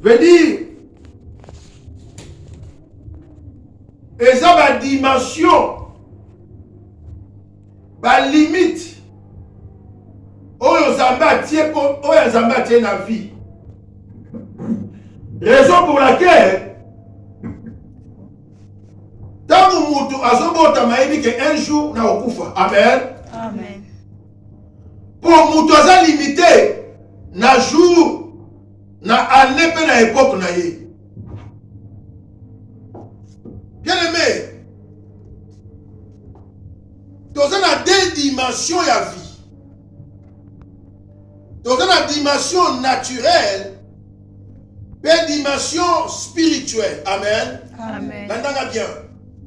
veut dire eza ba dimension ba limite oyo nzambe atie oyo nzambe atie na vie raison pour laquelle ntango moto azobotama ayebi ke un jour nakokufa amen, amen. mpo moto aza limite na jour na année mpe na epoke na ye bien aimé toza na deux dimension ya vie toza na dimension naturelle mpe dimension spirituelle amen nandanga bien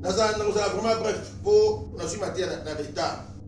nazala vraiment bref mpo nazwi mateya na retard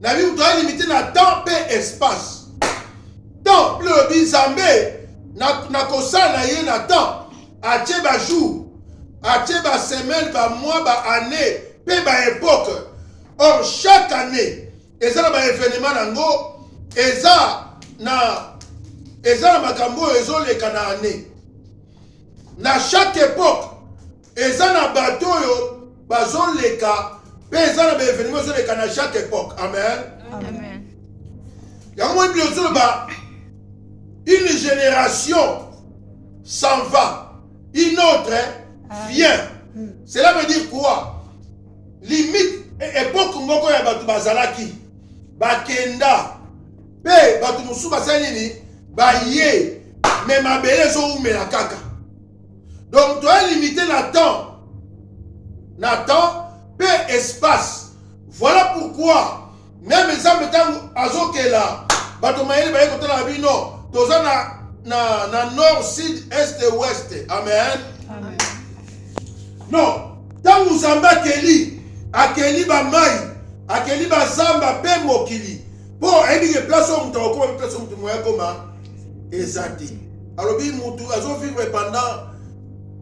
na bible toza limite na temps mpe espace temps bino lobi nzambe na kosala na ye na temps atie bajour atie basemaine bamois baannée mpe baepoque or chaque année eza na baevenement na yango eza na eza na makambo oyo ezoleka na année na chaque époque Eza na bato oyo bazoleka mpe eza na baevenema ezoleka na chaque époque amen yango moi bino ozoloba une génération s'en va une autre ah. vient hmm. cela veut dire quoi limite e-, époque moko ya bato bazalaki bakenda mpe bato mosusu basali nini baye me mabele ezowumela kaka donc toye limite na temps na temps mpe espace voilà pourquoi meme nzambe ntango azokela bato mayele baye kotalaka bino toza na, na, na nord sud est et ouest amen, amen. non ntango nzambe akeli akeli bamai akeli bazamba mpe mokili mpo ayebi ke place oyo moto akokoma mpe place oyo moto moya akoma eza te alobi moto azovivre pendant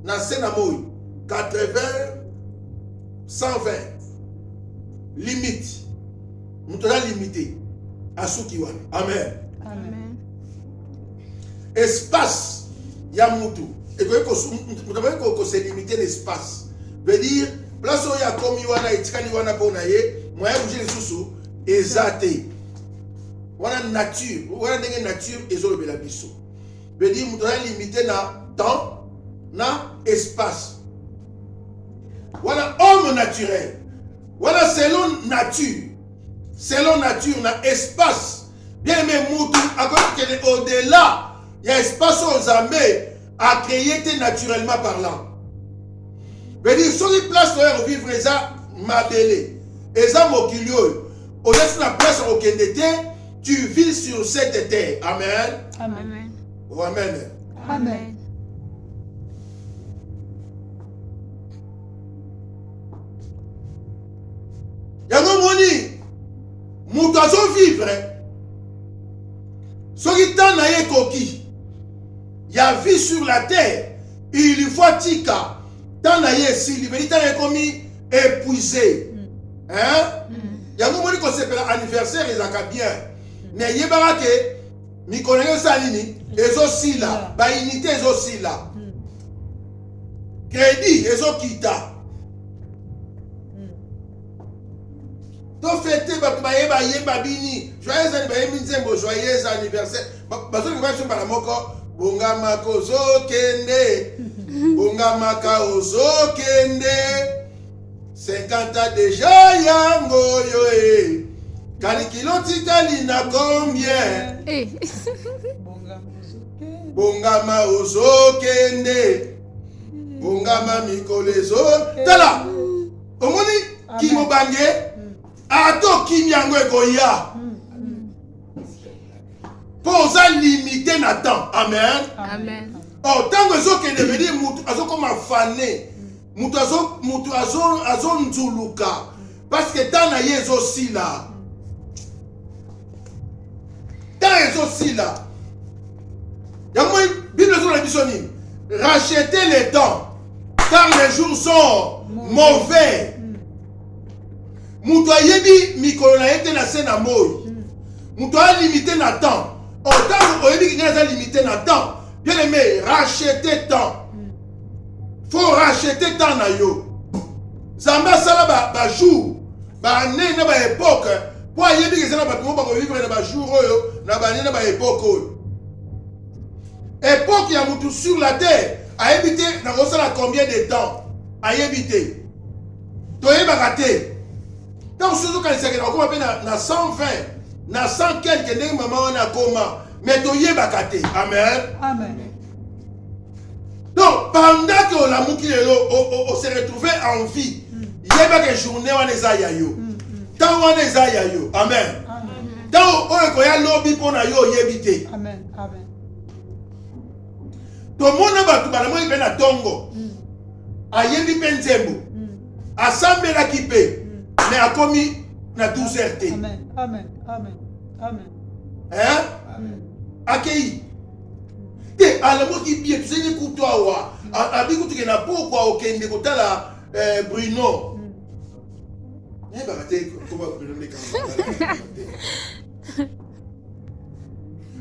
na se na moi 80 120 limite moto aza limite asuki wana amen, amen. espace ya moto ekoki koselimite na espace veut dire place oyo akomi wana etikali wana mpo na ye moyen bouge lisusu eza te wana nature wana ndenge nature ezolobela biso vedi moto aza limite na temps na espace wana homme naturel wana selon nature selon nature na espace bien aime motu akoki kokende au-delà ya espace oyo nzambe a créer te naturellement parlant veut soki place oyo ya kovivre eza mabele eza mokili oyo oza ti na place ya kokende te tu vis sur cette terre amen amen oh, amen amen yango omoni moto azovivre soki ntango na ye ekoki ya vie sur la terre il faut atika temps na ye esili medi ntango ekomi épuisé hein mm. yango omoni kosepela anniversaire ezalaka bien mm. mais yebaka ke mikolo yango esala nini ezosila mm. bainité ezosila crédit ezokita tofete bato bayeba yemba bini joyeux bayembi nzembo joyeux anniversaire bazongi koya biso mbala moko bongamaka ozokende bongamaka ozokende 50 deja yango oyo e eh. kalikilo titali na combien eh. bongama ozokende bongama mikolo ezo tala omoni ah, kimobange hmm. ata okimi yango ekoya mpo oza limite na temps amen amen or ntango ezokende vedi motu azokoma fane motu motu azonzuluka azo parceke temps na ye ezosila temps ezosila yango bible ezola biso nini racheter le temps car les jours sont mauvais moto ayebi mikolo na ye te na se na moi moto a limite na temps otango oh, oyebi kinga aza limite na temps bien aimé rachete temps faut rachete temps na yo nzambe asala bajour baannee na baepoke mpo ayebi eza na bato moko bakovivre na bajour oyo na baannee na baepoke oyo epoke ya motu sur la terre ayebi te nakosala combien de temps ayebi te toyebaka te ntango soki ozokanisaka na okoma mpe na 120 na 100 quelque ndenge mama wana akoma mais toyebaka te amen amen donc pendant ke olamuki lelo ose retrouve en vie mm. yebaka journée wana eza ya yo ntango mm, mm. wana eza ya yo amen ntango oyo ekoya lobi mpo na yo oyebi te tomona bato balamoi mpe na ntongo ayebi mpe nzembo asambelaki mpe me akomi na 12 heures te akei te alamoki bie tozali kutu awa abi kutuke na pokwa okende kotala eh, bruno nayebaka te koba bruno ndeka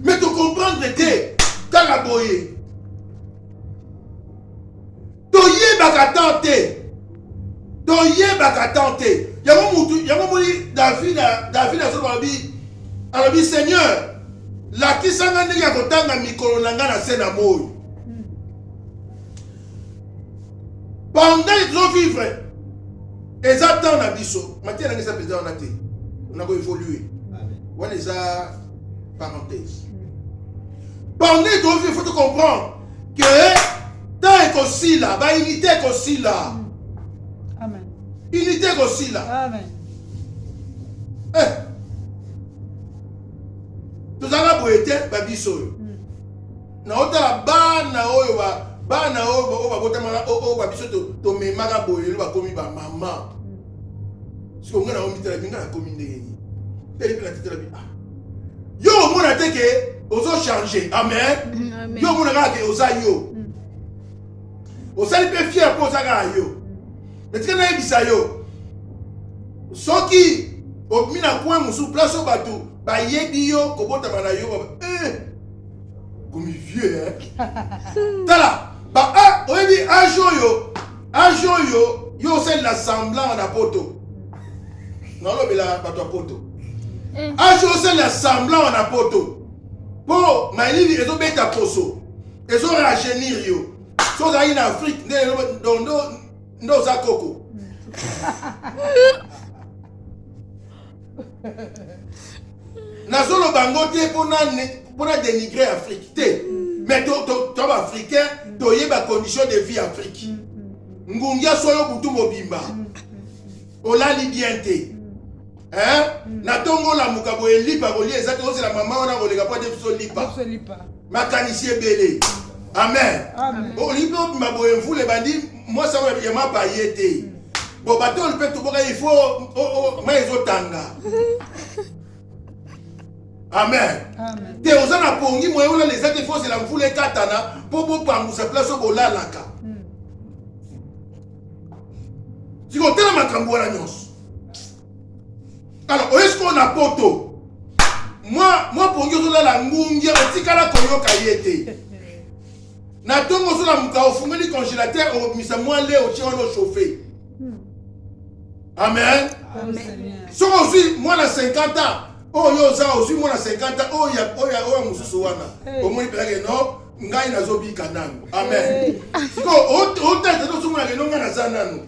mais tocomprendre te kaka boye toyebaka temps te toyebaka temps te yango mutu yango moni david david azoba alobi alobi seigneur lakisa ngai ndenge ya kotanga mikolo na ngai na se na moi pendant ezovivre eza temps na biso matière nanga eza mpenza wana te na koévolue wana eza parenthèse pendant ezovivre faut te comprendre ke temps ekosila ba unité ekosila amen unité ekosila amen eh. tozalaka boye te babiso oyo hmm. naotala bana oyo bana oyo babotamaka oyo babiso tomemaka boye lelo bakomi bamama hmm. sikoyo ngai naomitalaki ngai nakomi ndenge nini teli mpe natetelaki ah yo omona te ke ozo change amen yo omona kaka ke oza yo mm. osali mpe fier mpo oza kaka yo natika nayebisa yo soki omi na coin mosusu place oyo bato bayebi yo kobotama na yo eh, komi vieux tala ba ah, oyebi age oyo age oyo yo osalela semblant na poto nalobela bato ya poto eh. age osalela semblant na poto mpo malili ezobeta poso ezo rajeunir yo so ozalaki na afrique nde nde oza koko nazoloba yango te mpo na dénigrer afrique te mais to baafricain toyeba condition de vie afrique ngungia soyo butu mobimba olali bien te na ntongo olamuka boye lipa kolia eza te ozela mama wana koleka mpo ate biso lipa makanisi ebele amen olingi obima boye mvula ebandi mwasi yango ya mapa ye te Bon, bateau, on peut tout boire, il faut. Oh, oh, oh mais ils ont tanga. amen te oza na pongi moye olala eza te fozela mvula ekatana mpo bopangusa place oyo bolalaka hmm. sikotala makambo wana nyonso alors oye sikoyo na poto mwa mwa pongi ozolala ngungia otikala koyoka ye te na ntongo ozolamuka ofungoli congélateur obimisa mwa le otie wana ochauffe hmm. amen soki ozwi mwana 50 ans oyo oh, oza ozwi mwana 50 ans oyo ya mosusu wana omoni mpenza ke no ngai nazobika nanu amen siko otete tosomonake no ngai naza nanu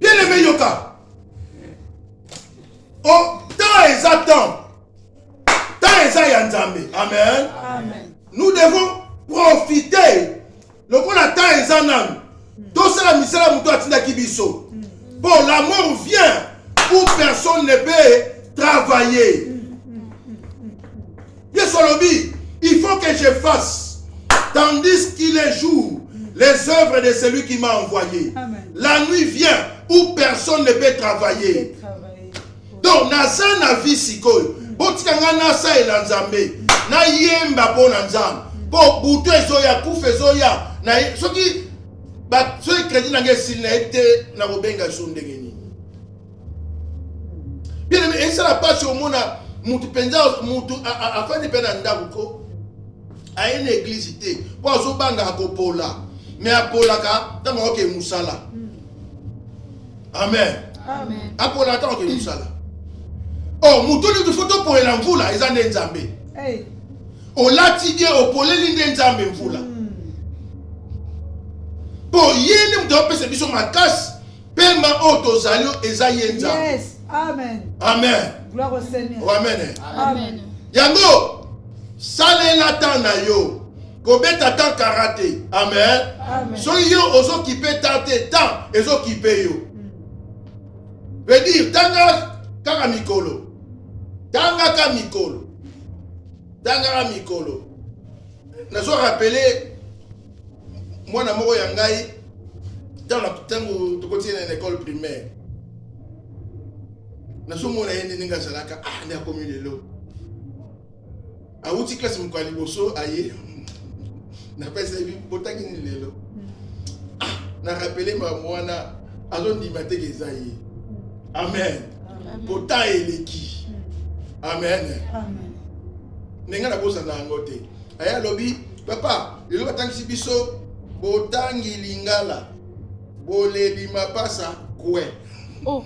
bien aimé yoka o oh, temps eza temps temps eza ya nzambe amen, amen. nous devons profiter lokola temps eza nanu tosala misala moto atindaki biso mpo la mort vient où personne ne peut travailler Yesu alobi, il faut que je fasse tandis qu'il est jour les œuvres de celui qui m'a envoyé. Amen. La nuit vient où personne ne peut travailler. Donc naza na vie sikoyo. Mm. Botika nga nasalela Nzambe. Nayemba mpo na Nzambe. Mpo butu ezoya, kufa ezoya. Soki soki kredi na ngai esili na ye te nakobenga so ndenge nini bien esala mpasi omona motu mpenza motu afandi mpe na ndako ko aye na eglize te mpo azobanga akopola me apolaka ntango aoke mosala amen apolaka ntango aoke mosala o oh, motu nyonso fo topolela mvula eza nde nzambe olati die opoleli nde nzambe mvula mpo hmm. ye nde moto apesa biso makasi Pema oyo tozali eza ye Nzambe. Yes. Amen. Amen. Gloire au Seigneur. Oh, amen. Eh. Amen. Yango salela temps na yo. Kobeta temps karate. Amen. Amen. Soki yo ozokipe temps te, temps ezokipe yo. Hmm. Veut dire tanga kaka mikolo. Tanga ka mikolo. Tanga ka mikolo. Nazo rappeler mwana moko ya ngai ntango tokoti na ekole primaire nazomona ye nde ndenge azalaka ah nde akomi lelo awuti klase moko ya liboso aye napesa yebi botangi nini lelo ah na rapele makambo wana azondima teke eza ye amen pota eleki amen ndenge nabosana yango te aye alobi Papa, lelo batangisi biso botangi lingala boleli mapasa kwe. Oh.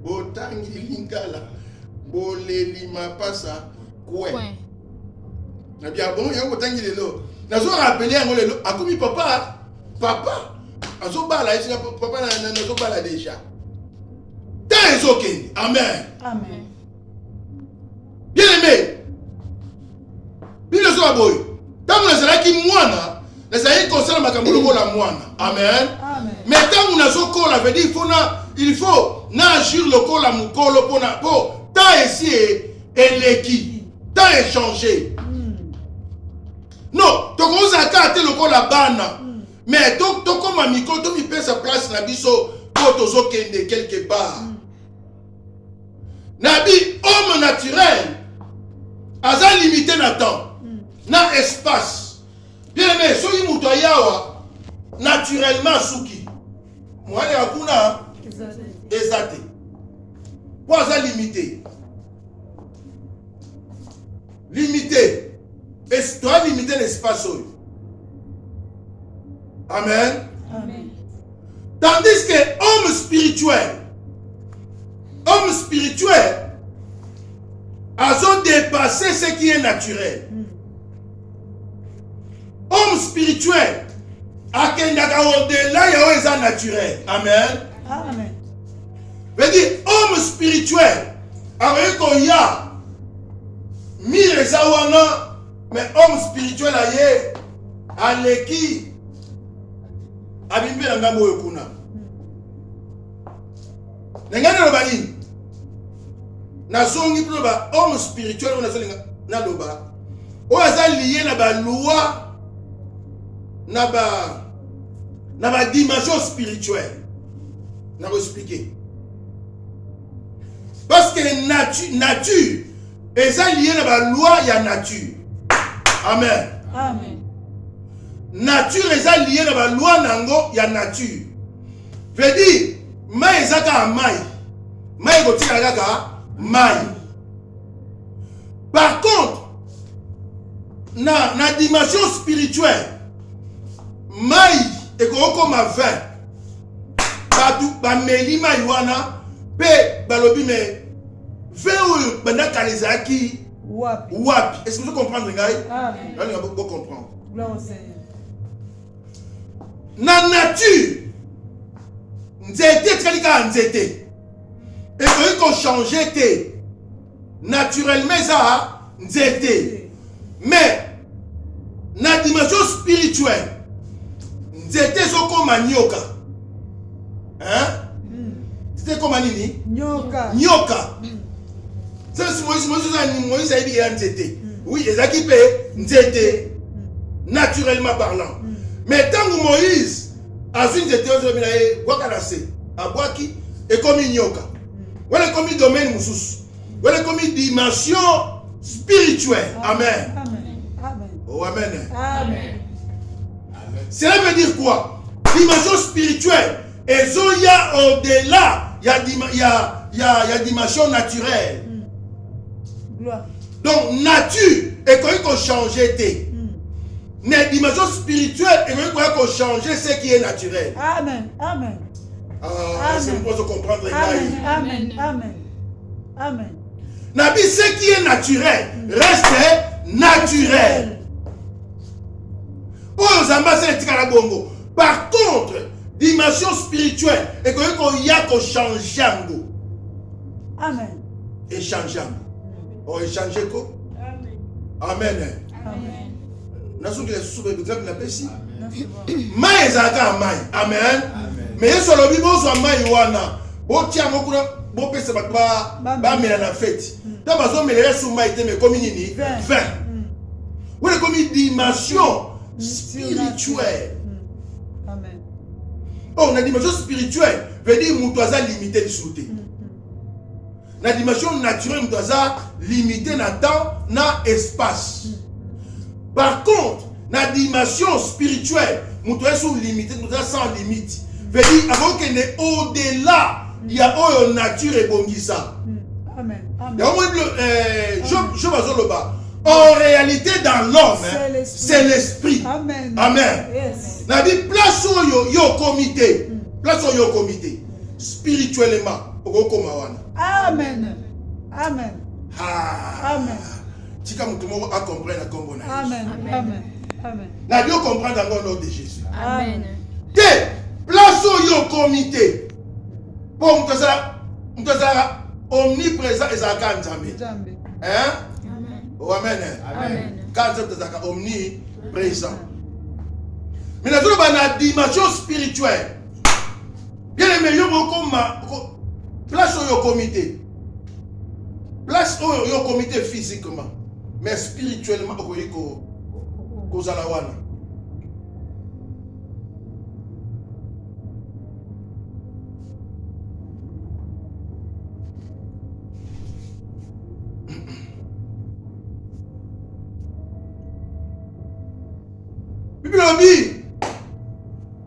botangi lingala boleli mapasa kwe. kwe. Na bia bon yango botangi lelo. Nazo rappeler yango lelo akomi papa papa azobala ye papa nazobala deja temps ezokende amen amen bien aimé bino ezoba boye ntango nazalaki mwana nazalaki kosala makambo lokola mwana amen me ntango nazokola vedi il faut na il faut na agir lokola mokolo mpona mpo temps esi eleki temps echange hmm. non tokozala kaka te lokola bana hmm. mais tokoma to mikolo tomipesa place na biso mpo tozokende quelque part mm. na bi homme naturel aza limite na temps mm. na espace bien aime soki moto ayawa naturellement asuki mwana ya kuna eza te mpo aza limite limite toya limite na espace oyo amen tandis que homme spirituel homme spirituel azo dépasser ce qui est naturel hmm. homme spirituel akendaka odela ya oyo eza naturel amen, amen. Vedi homme spirituel akoki koya mire eza wana mais homme spirituel aye aleki abimi mpe na ngambo oyo kuna na ngai naloba nini nazongi mpo ba homme spirituel oyo nazolinga naloba oyo aza liye na balwa na ba na ba dimension spirituelle na koexplike parce que nature, nature eza liye na baloi ya nature amen, amen. nature eza liye na baloi na yango ya nature veut dire mai eza kaka mai mai ekotikala kaka mai par contre na, na dimension spirituelle mai ekokoma vin bato bameli mai wana mpe balobi me vin oyo banda kala ezalaki wapi wapi est-ce que vous comprenez ngai nalinga bo comprendre na nature nzete etikali kaka nzete ekoki kochange te naturellement eza nzete mais na dimension spirituelle nzete ezokoma nyoka hein? Hmm. nzete ekoma nini nyoka nyoka hmm. sasi moïse moïse ozani moïse ayebi ya nzete hmm. oui ezalaki mpe nzete naturellement parlant mais ntango moïse azwi nzete ozobina ye bwaka na se abwaki ekomi nyoka wana ekomi domaine mosusu wana ekomi dimension spirituelle amen oh amen cela veut dire quoi dimension spirituelle ezoya au-delà ya, ya, ya, ya dimension naturelle mm. donc nature ekoki kochange te mm. mais dimension spirituelle ekoki koya kochange ce qui est naturel amen amen na bi ce qui est naturel reste naturel oyo nzambe asala etikala bongo par contre dimension spirituelle ekoki koya kochange yango echange yango o échange ko amen nazoki lisusu baebitrape napesi mai ezalaka ya mai amen me yesu alobi bozwa mai wana botia yango kuna bopesa bato bamela na feti nta hmm. bazomela yesu mai te mekomi nini 20 wana ekomi dimension hmm. spirituelle oyo na dimension spirituelle veut dire moto aza limite lisusu te na dimension naturelle moto aza limite na temps na espace par contre na dimension spirituelle moto aza sur limite moto aza sans limite veut dire akokende au delà ya oyo nature ebongisa yango moni eh, job azoloba en réalité dans l'homme hein, c'est l'esprit amen, amen. Yes. na bi place oyo yo okomi te mm. place oyo okomi te spirituellement okokoma wana amen amen ah. amen tika moto moko acomprendre na nkombo na amen amen amen nabi ocomprendre yango nom de jésus amen te place oyo okomi te mpo moto azala moto azalaka omniprésent ezalaka ya nzambe hein? oh, amen ka nzambe ezalaka omniprésent mais nazoloba na dimension spirituelle bien aimé yo mokoma place oyo okomi te place oyo yo okomi te physiquement mais spirituellement okoki kozala wana bibi lobi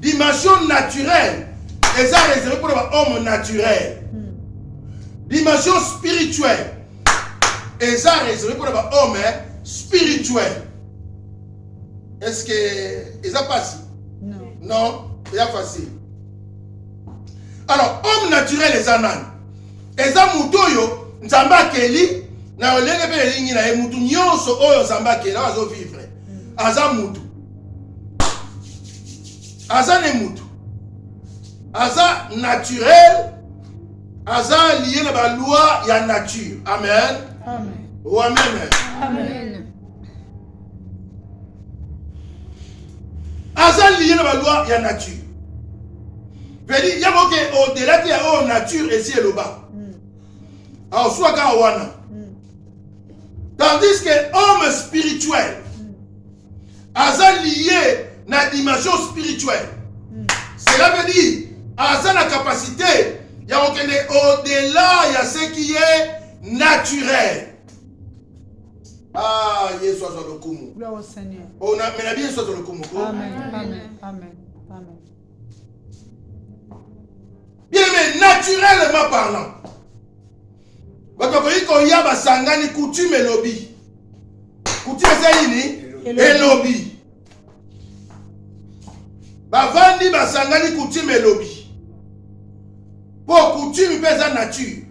Dimension naturelle eza reserve mpo na bahomme naturel dimension spirituelle eza reserve mpo na bahomme spirituel est ce que eza mpasi non eza facile alors homme naturel eza nani eza moto oyo nzambe akeli na lolenge mpe elingi na ye motu nyonso oyo nzambe akeli oyo azovivre aza motu aza ne mutu aza naturel aza liye na baloi ya nature amen wameme aza liye na baloi ya nature vedi yango oke odela te ya oyo oh, nature esi eloba hmm. aoswaka wana hmm. tandis que homme spirituel aza liye na dimension spirituelle hmm. cela veut dire aza na capacité ya kokende au-delà ya ce qui est naturel ah yesu azwa lokumu omela bi yesu azwa lokumu ko bien mais naturellement parlant bato bakoki koya basangani coutume elobi coutume eza nini elobi bavandi basangani coutume elobi mpo coutume mpe eza nature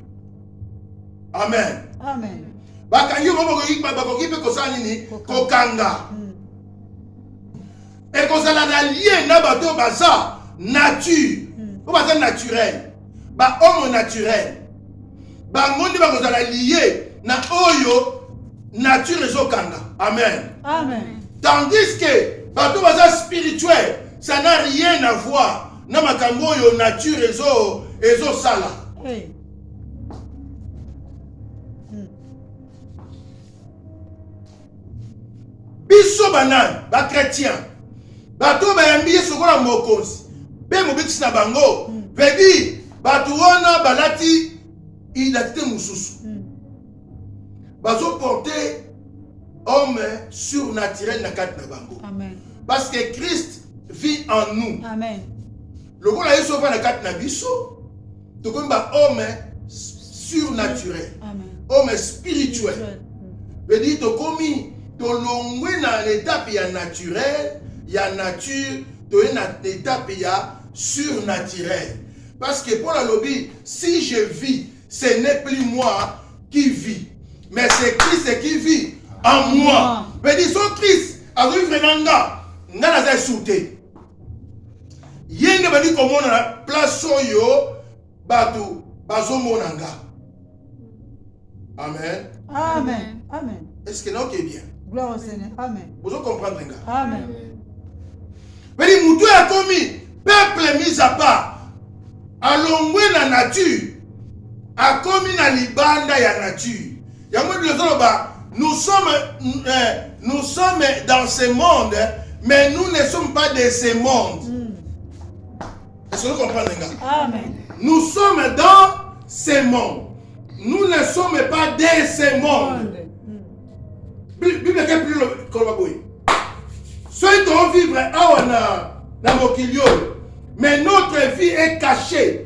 amen, amen. bakangi yo bakoki mpe kosala nini kokanga hmm. ekozala na lien na bato oyo baza nature hmm. oyo baza naturel bahomo naturel bango nde bakozala lie na oyo nature ezokanga amen, amen. tandis ke bato baza spirituel ça n'a rien à voir na makambo oyo nature ezo ezosala hey. biso banani bakretien bato oyo bayambi yesu lokola mokonzi mpe mobikisi na bango pedi hmm. bato wana balati identité mosusu hmm. bazoporte homme surnaturel na kati na bango parce que christ vit en nous Amen. lokola yesu ova na kati na biso tokomi ba homme surnaturel homme spirituel vedire tokomi tolongwe na etape ya naturel ya nature toye na etape ya surnaturel parce que paul alobi si je vis ce n'est plus moi qui vis mais c'est christ qui vit en moi vedire so christ azovivre na nga nga naza esu te ye nde bandi komona na place oyo bato bazomona nga amen amen amen est ce que naoke bien gloire au seigneur amen bozo comprendre nga amen beli motu oyo akomi peuple mise à part alongwe na nature akomi na libanda ya nature yango nde nazoloba nous sommes, euh, nous sommes dans ce monde mais nous ne sommes pas de ce monde mm. est-ce que vous comprenez nga amen nous sommes dans ce monde nous ne sommes pas de ce monde bible eke plus koloba boye soki tovivre awa na, na mokili oyo mais notre vie est cachée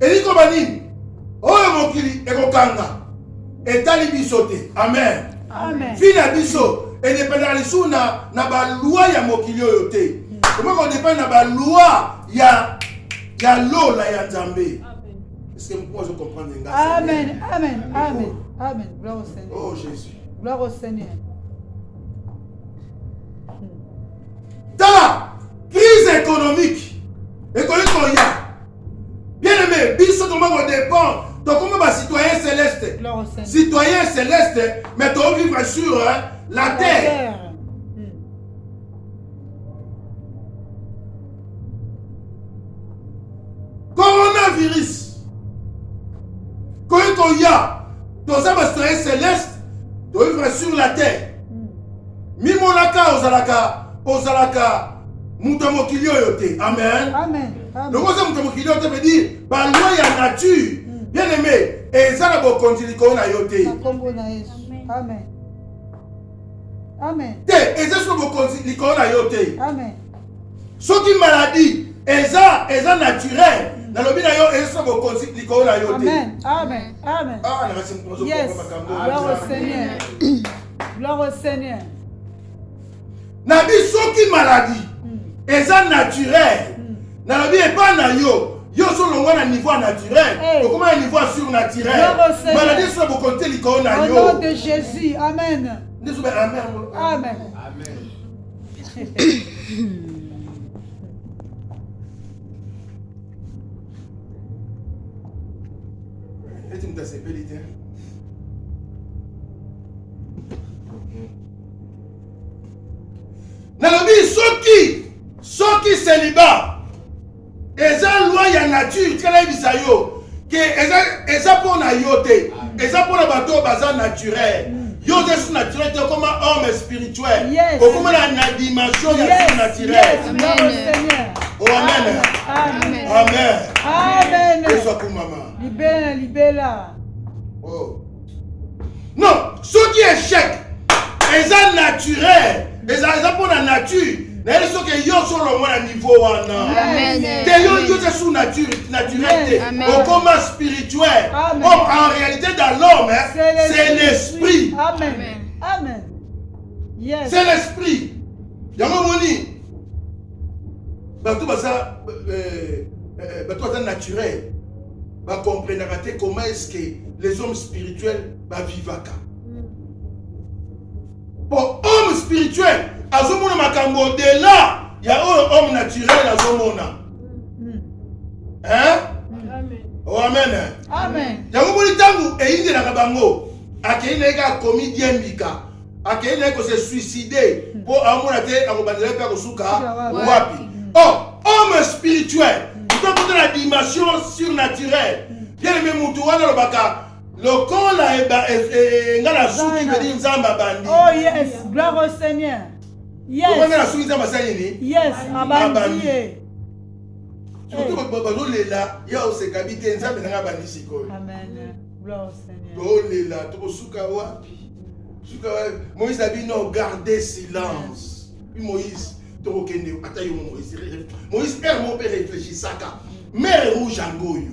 elingi koloba nini oyo mokili ekokanga etali biso te amen vi na biso edependaka lisusu na, na balwa ya mokili oyo te okoki kodepende na balwa ya, ya lola ya nzambe eske mokuu azo comprendre nga amen amen amen amen gloire au seigneur oh jésus gloire au seigneur tala crise économique ekoki koya bien aimé biso tokoma kodépend tokoma bacitoyen céleste citoyen céleste mais tovivre sur hein, la terre coronavirus koki koya toza bacitoyen céleste tovivre sur la terre mimonaka ozalaka ozalaka moto ya mokili oyo te amen lokola oza moto ya mokili oyo te veut dire baloi ya nature mm. bien aime eza na bokonzi likolo na yo te te eza soko bokonzi likolo na yo te soki maladie eza eza naturel mm. nalobi na yo eza soko bokonzi likolo na yo te amen amen amen ah, Gloire au Seigneur. nabi soki maladie mm. eza naturel mm. nalobi epai na yo yo ozolongwa na niveau ya naturel hey. okoma na niveau ya surnaturel maladie esola bokono te likolo na yo nom de jésus amen nde zobe amen amen amen Eti moto asepeli te. Nalobi soki soki celibat eza loi ya nature tika nayebisa yo ke eza mpo na yo te eza mpo na bato oyo baza naturel Yo oza surnaturel te okoma homme spirituel. Okoma na na dimension ya surnaturel. Oh amen. Amen. Amen. Amen. Yesu akumama. Libela libela. Oh. Non, soki échec eza naturel eza eza mpo na nature nayebi soki yo osolongwa na niveau wana te yo yo te sous nature naturel te okoma spirituel or en réalité dans l'homme c'est l'esprit c'est l'esprit yango omoni bato baza euh, euh, bato baza naturel bacomprenaka te comment est ce que les hommes spirituels bavivaka po homme spirituel azomona makambo odela ya oyo homme naturel azomona hmm. hein? Oh, amen amen yango moni ntango eyindelaka bango akei na ye kaka komi diembika akei na ye kose suicide mpo hmm. aomona te akobandela mpe akosuka wapi o oh, homme spirituel hmm. tokota na dimension surnaturelle bien aime motu wana alobaka lokola nga na suki bedi nzambe abandi oh yes gloire au seigneur yes lokola nga na suki nzambe asali nini yes abandi ye surtout bazolela ya osekabi te nzambe nanga abandi sikoyo tolela tokosuka wapi suka wapi moïse abi non garde silence puis moïse tokokende ata yo moïse moïse père mo mpe réfléchisaka mare rouge yango oyo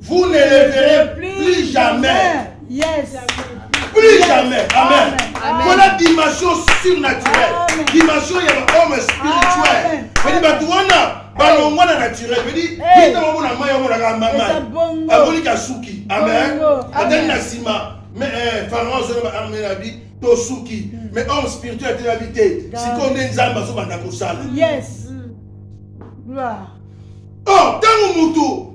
Vous ne le verrez plus jamais. Yes. Plus jamais. Amen. Voilà dimension surnaturelle. Dimension ya homme spirituel. Bani batu wana balongwa na naturel. Bani yeta moko na mayi yango na kamba mayi. Aboni kasuki. Amen. Atani na sima. Mais eh, Pharaon zona ba armée na bi tosuki. Hmm. Mais homme spirituel atela bi te. Sikoyo nde Nzambe azobanda kosala. Yes. Hmm. Gloire. Oh, ntango moto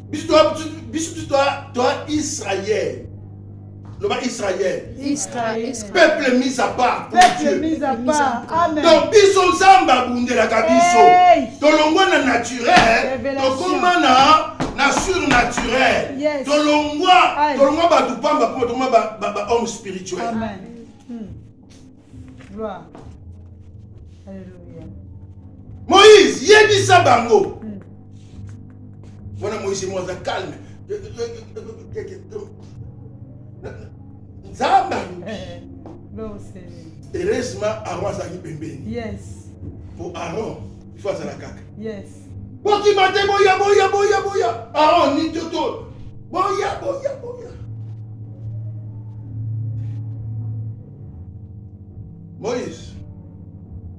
biso biso toa israel loba israel peuple mis à part donc biso nzambe abundelaka biso tolongwa na naturel tokoma na na surnaturel tolongwa tolongwa bato pamba mpo tolongwa bahomme spirituel Amen. moïse yebisa bango hmm. wana moïse mo aza calme nzambe heureusement aron azalaki pembeni po aron ifo azala kaka bokima te boya boya boya boya aron ni toto boya boya boya moïse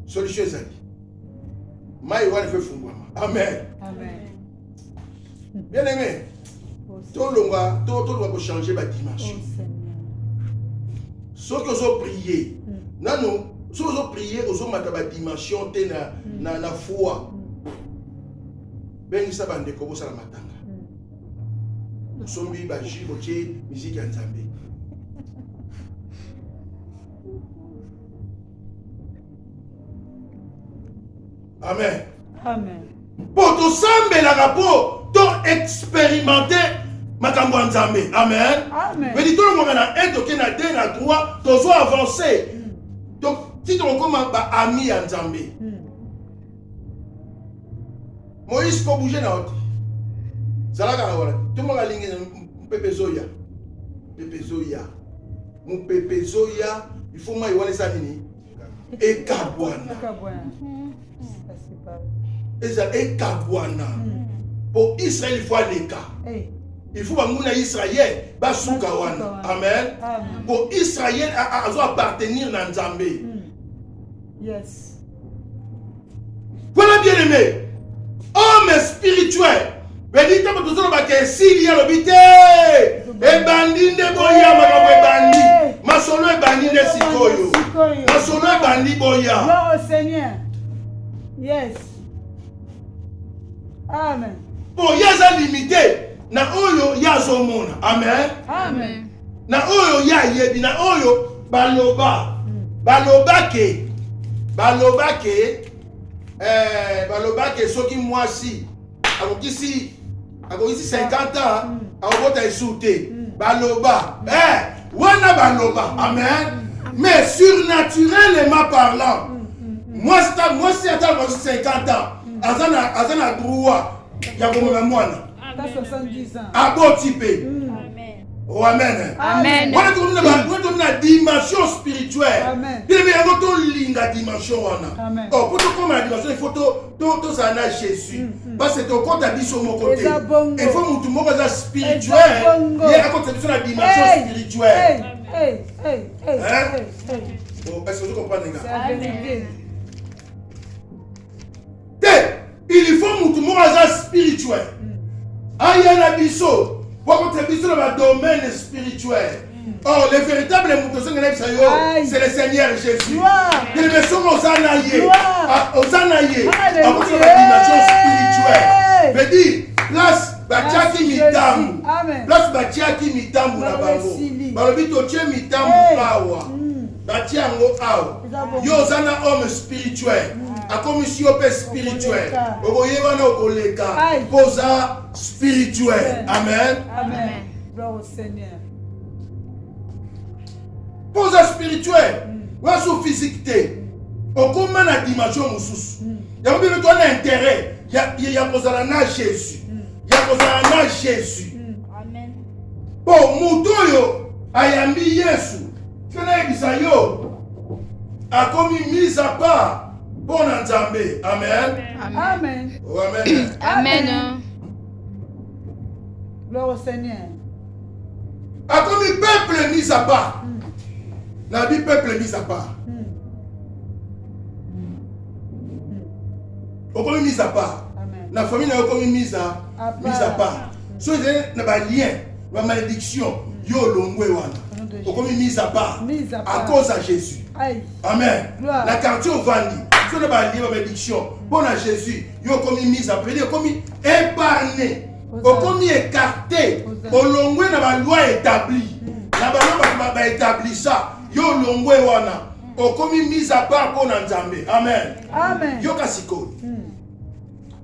solution ezali mai wana efo efungwama amen, amen. bien aimé oh, tolonga tolonga kochange badimension oh, soki ozo prie hmm. nanu soki ozo prie ozomata badimension te na, hmm. na, na foi hmm. bengisa bandeko bosala matanga osombi bajus botie miziki ya nzambe Amen. Amen. Mpo tosambelaka mpo to experimente makambo ya Nzambe. Amen. Amen. Mpe tolongwaka na 1 toke na 2 na 3 tozwa avance hmm. ti tokokoma baami ya Nzambe. Hmm. Moïse ko bouger na ote zalaka na wana tomaka lingi mpepe ezoya mpepe ezoya mopepe ezoya ifo mai wana eza nini ekabwana eza ekabwana mpo hmm. israele fo aleka il faut banguna israel basuka wana amen mpo israel azo appartenir na nzambe hmm. yes Voilà bien aimé. Homme spirituel. Beni ntango tozoloba ke esili alobi te ebandi nde boya makambo ebandi masolo ebandi nde sikoyo masolo ebandi boya boya eza limite na oyo ye azomona amen, amen. na oyo ye ayebi na oyo baloba baloba ke baloba ke eh, baloba ke soki mwasi akokisi akokisi 50 ans hmm. akobota esu te hmm. baloba eh, wana baloba hmm. amen mais surnaturellement parlant mwasi mwasi ata akosi 50 ans aza na droit ya komona mwana Ata 70 ans. Aboti pe. Mm. Amen. Oh amen. Amen. Wana tokomi na ba wana tokomi na dimension spirituelle. Amen. Bebe yango to linga dimension wana. Amen. Oh pour tokoma na dimension il faut to to to za na Jésus. Mm, mm. Parce que tokota biso moko te. Il faut mutu moko za spirituel. Ye akota biso na dimension spirituelle. Hey, hey, hey, hey, hein? hey, hey. Bon, est-ce que vous comprenez, gars? C'est la vérité. te il faut mutu moko aza spirituel aya na biso wakotia biso na badomaine spirituel or le véritable moto ozongi nayebisa yo c'est le seigneur jésus elebe soki oza na ye oza na ye akoti na badimension spirituel veut dire place batiaki mitambo place batiaki mitambo na bango balobi totie mitambo awa batia yango awa yo oza na homme spirituel akomisi yo mpe spirituel okoye wana okoleka mpo oza spirituel amen mpo oza spirituel mm. wasu physique te okoma na dimension mosusu mm. yango bino toa na interet ya kozala na jésus mm. ya kozala na jésus mpo moto oyo ayambi yesu te nayebisa yo akomi mise à part mpo na nzambe amen amen oh, amen amen gloire au seigneur akomi peuple mise à part hmm. nabi peuple mise à part hmm. okomi mise à part na famille na yo okomi mise à part soki ezali na balien ba malédiction yo olongwe wana okomi mise à part à cause ya jésus amen na quartier ovandi soki na balien ba malédiction mpo na jésus yo okomi mise à predi okomi épargne okomi écarté olongwe na baloi établi hmm. na baloi baétablissa yo olongwe wana okomi mise à part mpo na nzambe amen yoka sikoyo hmm.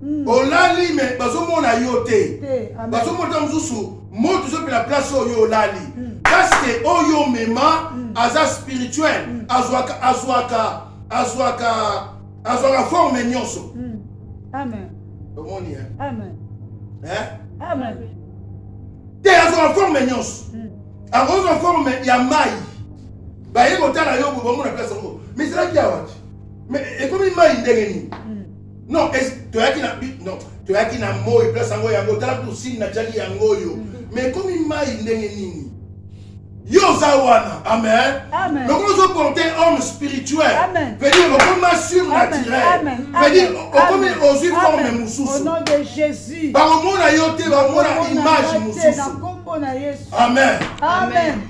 Hmm. olali me bazomona yo te bazomona mosusu moto ezopela place oyo olali hmm. paske oyo omema hmm. aza spirituel azwaka azwaka azwaka azwaka forme nyonso omoni te azwaka forme nyonso akozwa forme ya mai baye kotala yo bomona place yango mais ezalaki awati mais ekomi mai ndenge nini non toyaki na non toyaki na moi place yango yango tala kusini natyaki yango oyo mm-hmm. mais ekomi mai ndenge nini yo oza wana amen lokola ozoporte homme spirituel vedi okoma surnaturel vedi okomi ozwi forme mosusu bakomona yo te bakomona image mosusu amen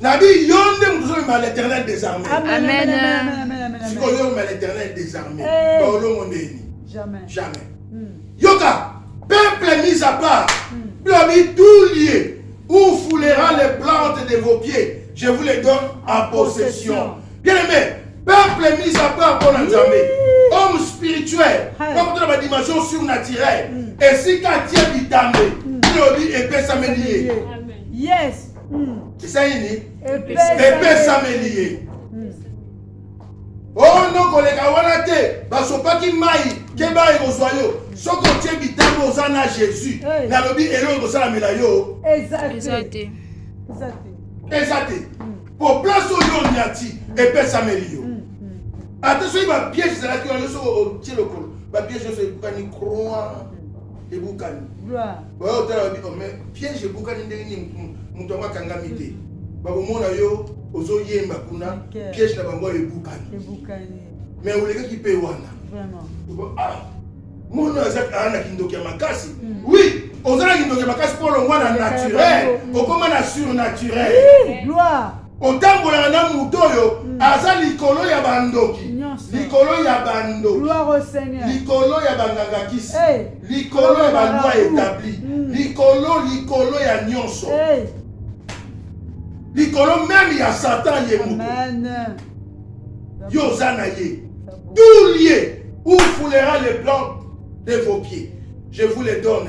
nabi yo nde moto ozomema l'éternel désarmé sikoyo oyomema l'éternel désarmé baolongo ndeni jamais yoka peuple mis à part bilobi hmm. tout lieu où foulera les plantes de vos pieds je vous les donne en possession bien aimé peuple mis à part mpo na nzambe homme spirituel bakota na badimension surnaturel hmm. esika atie bitambe bilobi hmm. epesameli ye yes esalini epesameli ye ono koleka wana te basopaki mai keba ekozwa yo soki otie bitambo oza na jésus nalobi eloko ekosalamela yo eza te eza te mpo hmm. place oyo onyati epesameli yo hmm, hmm. ata soki bapiege ezalaki wana yo soki otie lokolo bapiege nyonso ebukani croix ebukani bayo otala babi ome oh, piège ebukani ndenge nini moto yango akangami te bakomona yo ozoyemba kuna piège na bango ebukani mais olekaki mpe wana ah, mono aza ah, na kindoki ya makasi hmm. oui oza na kindoki ya makasi mpo olongwa na naturel okoma na surnaturel otambolaka na moto oyo hmm. aza likolo ya bandoki likolo ya bandoki likolo ya bangangakisi likolo ya balwa etabli hmm. likolo likolo ya nyonso likolo meme ya satan ye moto yo oza na ye tout lieu où foulera les plantes de vos pieds je vous les donne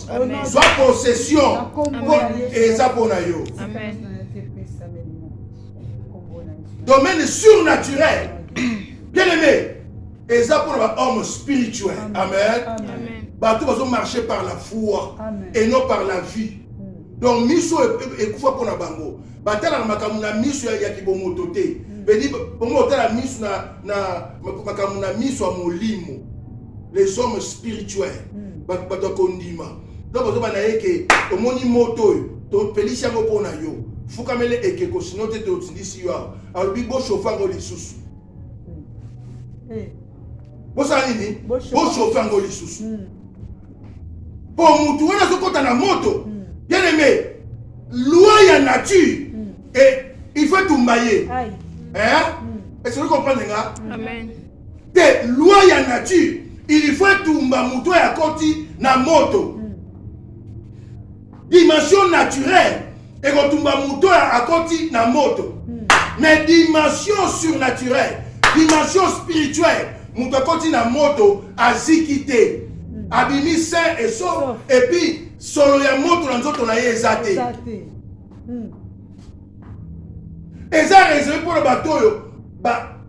zwa possession mpo eza mpo na yo domaine surnaturel bien aimé eza mpo na bahomme spirituel amen, amen. bato bazomarche par la foi amen. et non par la vie donc miso ekufa mpo na bango batalaka makambo na miso ya, ya kibomoto te mm. beni bongo otala miso na, na makambo na miso ya molimo les hommes spirituels mm. bato ya kondima donc ozoba na ye ke omoni moto oyo topelisi yango mpo na yo fukamele ekeko sino te totindisi yo awa alobi boshofa yango lisusu mm. eh. bosala nini boshofa yango lisusu mm. po mutu wana azokota na moto hmm. bien aimé loi ya nature hmm. et il faut etumba ye hmm. esoki comprendre nga te loi ya nature il faut etumba moto oyo akoti na moto dimension naturelle ekotumba moto oyo akoti na moto hmm. mais dimension surnaturelle dimension spirituelle moto akoti na moto aziki te hmm. abimi sain et sauf epuis solo ya moto na nzoto na ye eza te hmm. eza reserve mpo na bato oyo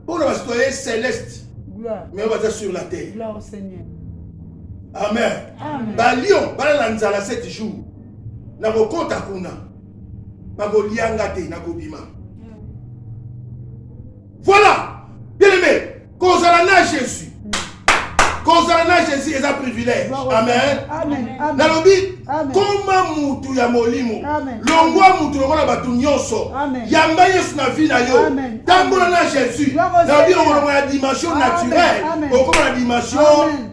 mpo na basitoye celeste mais baza sur la terre amen balion balala nzala 7 jours nakokota kuna bakolia nga te nakobima voilà bien aimé kozala na jésus kozala na jésus eza privilège amen nalobi koma mutu ya molimo longwa mutu lokola bato nyonso yamba yesu na vi na yo tambola na jésus nalobi okolongola dimension naturelle okoma na dimension